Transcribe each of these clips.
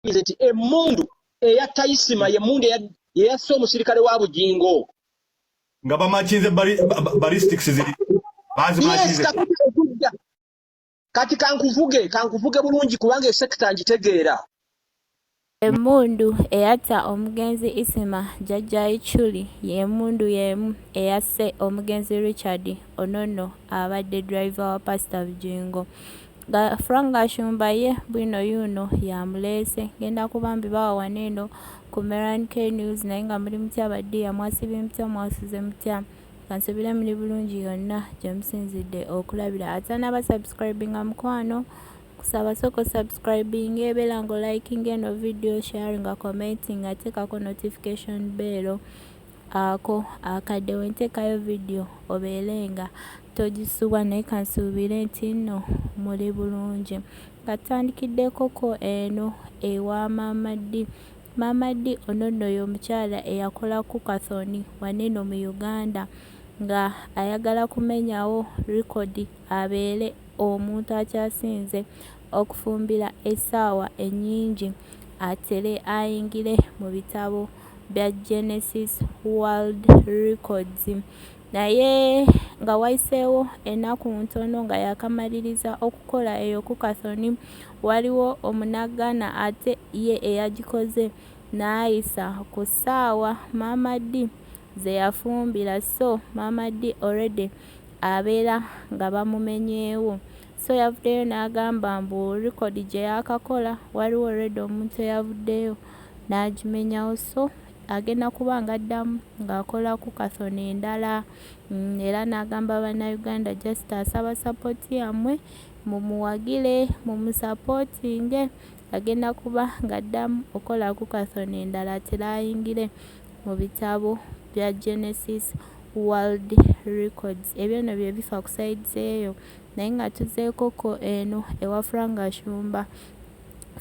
bakkirize nti emmundu eya tayisima yemmundu yeyasse omusirikale wa bugingo nga bamakinze balistics ziri bazimakinzekudda kati kankuvuge kankuvuge bulungi kubanga esekita ngitegeera emmundu eyatta omugenzi isima jajja ichuli yemundu yemu eyasse omugenzi richard onono abadde driver wa pasita bugingo nga Frank Gashumba ye bwino yuuno y'amuleese. Ng'enda ku bambi bawa wano eno ku Meran K News naye nga muli mutya baddiya mwasibye mutya mwasuze mutya kansubire muli bulungi yonna gye musinzidde okulabira ate anaaba subscribinga mukwano kusaba sooka osubscribinga ebeera nga olikinga eno video sharinga commentinga ateekako notification beero Ako akadde wenteekayo video obeere nga togisubwa naye kansuubire nti nno muli bulungi. Katandikiddekoko eno ewa Maama Ddi. Maama Ddi ono nno y'omukyala eyakola Cook-a-thon wano eno mu Uganda nga ayagala kumenyawo record abeere omuntu akyasinze okufumbira esaawa enyingi atere ayingire mubitabo bya Genesis world records naye nga wayiseewo enaku ntono nga yakamaliriza okukola eyo kukathon waliwo omunagana ate ye eyagikoze nayisa ku saawa maama Dee zeyafumbira so maama Dee already abeera nga bamumenyeewo So yavuddeyo n'agamba mbu record gye yaakakola waliwo already omuntu eyavuddeyo n'agimenyawo so agenda kuba nga addamu ng'akola ku kathon endala mm, era n'agamba bannayuganda just asaba sapoti yammwe mumuwagire mumusapotinge agenda kuba ng'addamu okola ku kathon endala tiraayingire mu bitabo bya genesis world records ebyo no bye bifa ku saidi eyo naye nga tuzeeko ko eno ewa Frank Ashumba.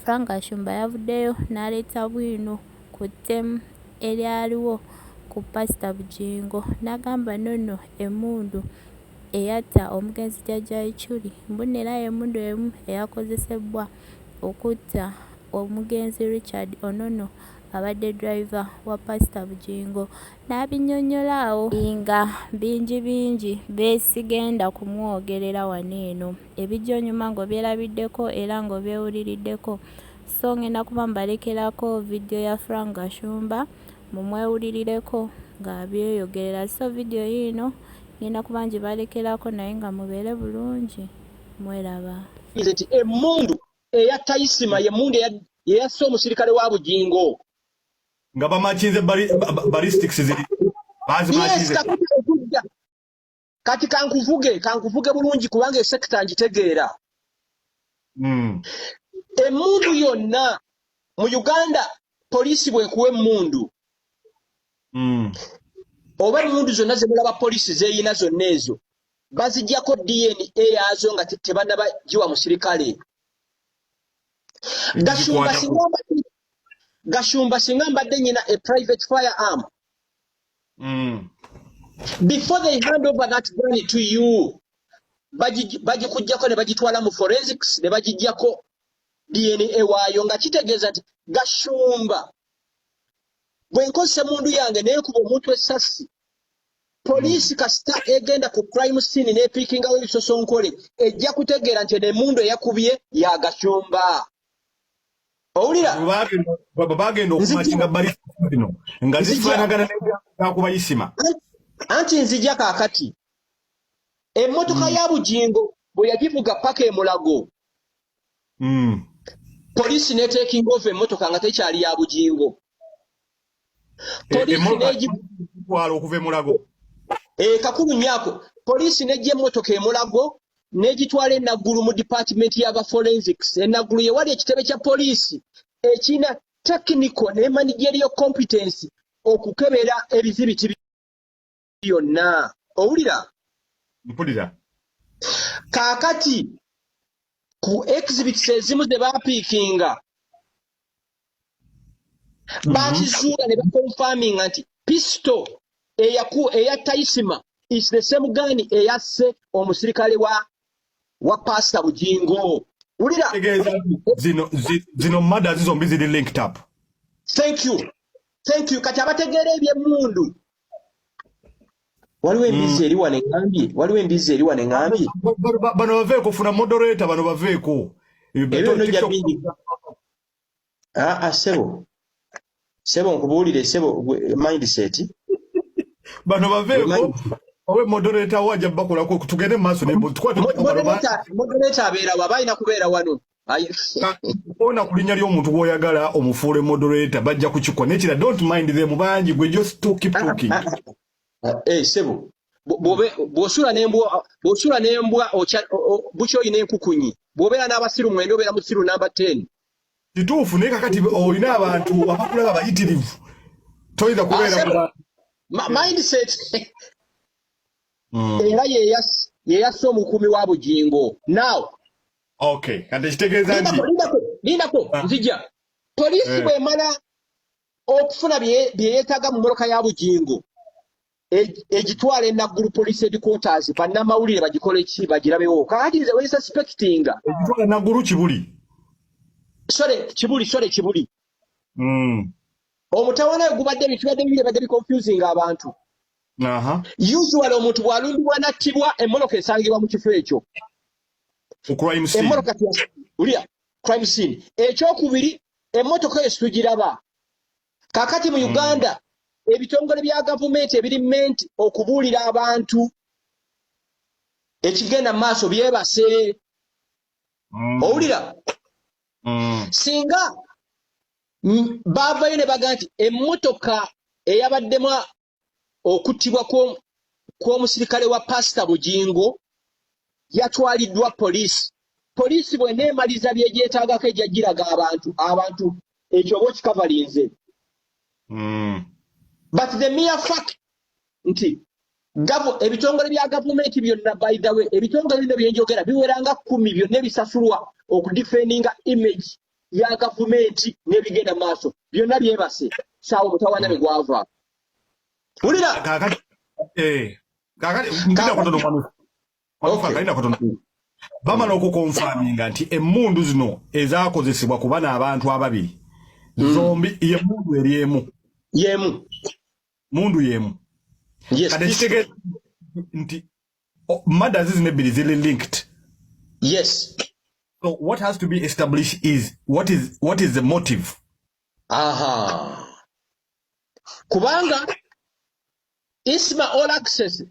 Frank Ashumba yavuddeyo n'aleeta bwino ku ttemu eryaliwo ku Pasita Bugingo n'agamba nonno emmundu eyatta omugenzi Jjajja Ichuli mbu nno era y'emmundu emu eyakozesebbwa okutta omugenzi Richard Onono abadde driver wa Pasita Bugingo N'abinyonnyola awo nga bingi bingi besigenda kumwogerera wano eno. Ebijja onyuma ng'obyerabiddeko era ng'obyewuliriddeko. So ng'enda kuba mbalekerako vidiyo ya Frank Gashumba mumwewulirireko ng'abyeyogerera. So vidiyo yiino ng'enda kuba ngibalekerako naye nga mubeere bulungi mweraba. Nze nti emmundu eya Tayisima y'emmundu eyasse omusirikale wa Bugingo. nga bamakinze ballistics ziri bazimakinze kati kankuvuge kankuvuge bulungi kubanga esekita ngitegeera hmm. emundu yonna mu uganda poliisi bwekuwa emundu hmm. oba emundu zonna zemulaba poliisi zeyina zonna ezo bazijjako dna yaazo nga tebanaba giwa musirikale gasumba singa gashumba singa mbadde nyina a private fire arm mm. before they hand over that gun to you bagikugyako ne bagitwala mu forensics ne bagigyako dna waayo nga kitegeeza nti gashumba bwe nkozesa emundu yange nekuba omuntu esassi poliisi kasita egenda ku crime scene nepiikingawo ebisosonkole ejja kutegeera nti eno emundu eyakubye yagashumba owulira bagenda okumakinga balino nga zifanagana nakuba isima anti nzija kakati emmotoka hmm. ya bugingo bwe yagivuga paka emulago hmm. poliisi netekinga ova emmotoka nga tekyali ya bugingo twala okuva emulago eh, kakulu nyako poliisi nejja emmotoka emulago negitwala enaggulu mu dipatimenti yaba forensics enaggulu yewali ekitebe kya poliisi ekina technical ne managerial competence okukebera ebizibiti yonna owulira mpulira kaakati ku exhibits ezimu ze baapiikinga mhm. baakizuula ne bakonfaminga nti pisto eya taisima is the same gun eyasse omusirikale wa wa pasita bugingo wulira zino mada zizombi ziri linked up thank you thank you kati abategeera ebyemundu waliwo embizzi mm. eri wano eŋambye waliwo embizzi eri wano eŋambye bano baveeko funa moderator bano baveeko ebyo nojja bingi aa ah, ah, sebo sebo nkubuulire sebo mindset bano baveeko owe moderator wo ajja bakolako tugende mu maaso nemodereta abeera wa balina kubeera wano ona ku linnya ly'omuntu gw'oyagala omufuule moderator bajja kukikola nekira don't mind them bangi gwe just to keep ah, talking ah, ah, eh, sebo bwosula nembwa bwosula nembwa bukya olina enkukunyi bwobeera n'abasiru mwenda obeera musiru namba ten kituufu naye kakati olina abantu abakulaba abayitirivu toyinza kubeera mindset hmm. era yeyassa omukuumi wa bugingo now Okay, kati ekitegeeza nti lindako ah. nzija poliisi eh. bw'emala okufuna bye yeetaaga mu mmoloka ya Bugingo egitwala e Naggulu poliisi headquarters bannamawulire bagikole ki bagirabewo kakati nze we suspectinga egitwala e Naggulu Kibuli sore Kibuli sore Kibuli mm. omutawana we gubadde bitubadde bibiri badde biconfusing abantu usually omuntu bw'alumbibwa n'attibwa emmoloka esangibwa mu kifo ekyo ku crime scene emoro kati ulia crime scene echo kubiri emoto ko esujiraba kakati mu hmm. Uganda mm. ebitongole bya government ebiri ment okubulira abantu ekigenda maso byebase mm. owulira mm. singa bavayo ne baga nti emotoka eyabaddemu okuttibwa kw'omusirikale wa paasita bugingo yatwaliddwa poliisi poliisi bwena emaliza byegyetaagako ejja giraga abantu abantu ekyo oba okikavalinze hmm. but the mere fact nti ebitongole bya gavumenti byonna by the way ebitongole bino byenjogera biweranga kumi byonna ebisasulwa okudifendinga image ya gavumenti n'ebigenda mu maaso byonna byebase saawa omutawana ne gwava wulira bamala okukonfaminga nti emmundu zino ezakozesebwa kuba n'abantu ababiri hmm. zombi yemundu eri emu yemu mundu yemu kati kitegeeza nti Oh, mada zizino ebbiri ziri linked yes so what has to be established is what is, what is the motive aha kubanga isma all access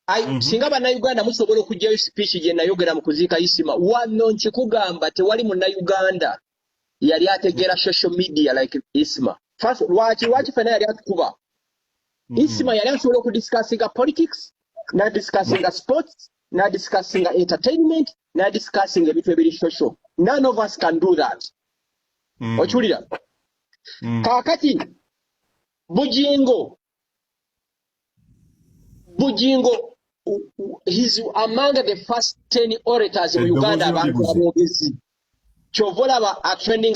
I, mm -hmm. singa bannayuganda musobola okugyayo speech gye nayogera mu kuziika isima wano nkikugamba tewali munnayuganda yali ategeera social media like isma first lwaki lwaki fena yali atukuba mm. isma yali asobola okudiscussinga politics nadiscussinga sports nadiscussinga entertainment nadiscussinga ebintu ebiri social none of us can do that mm. okiwulira mm. kaakati bujingo Bujingo he's among the first 10 orators in Uganda abantu abogezi. Chovola ba trending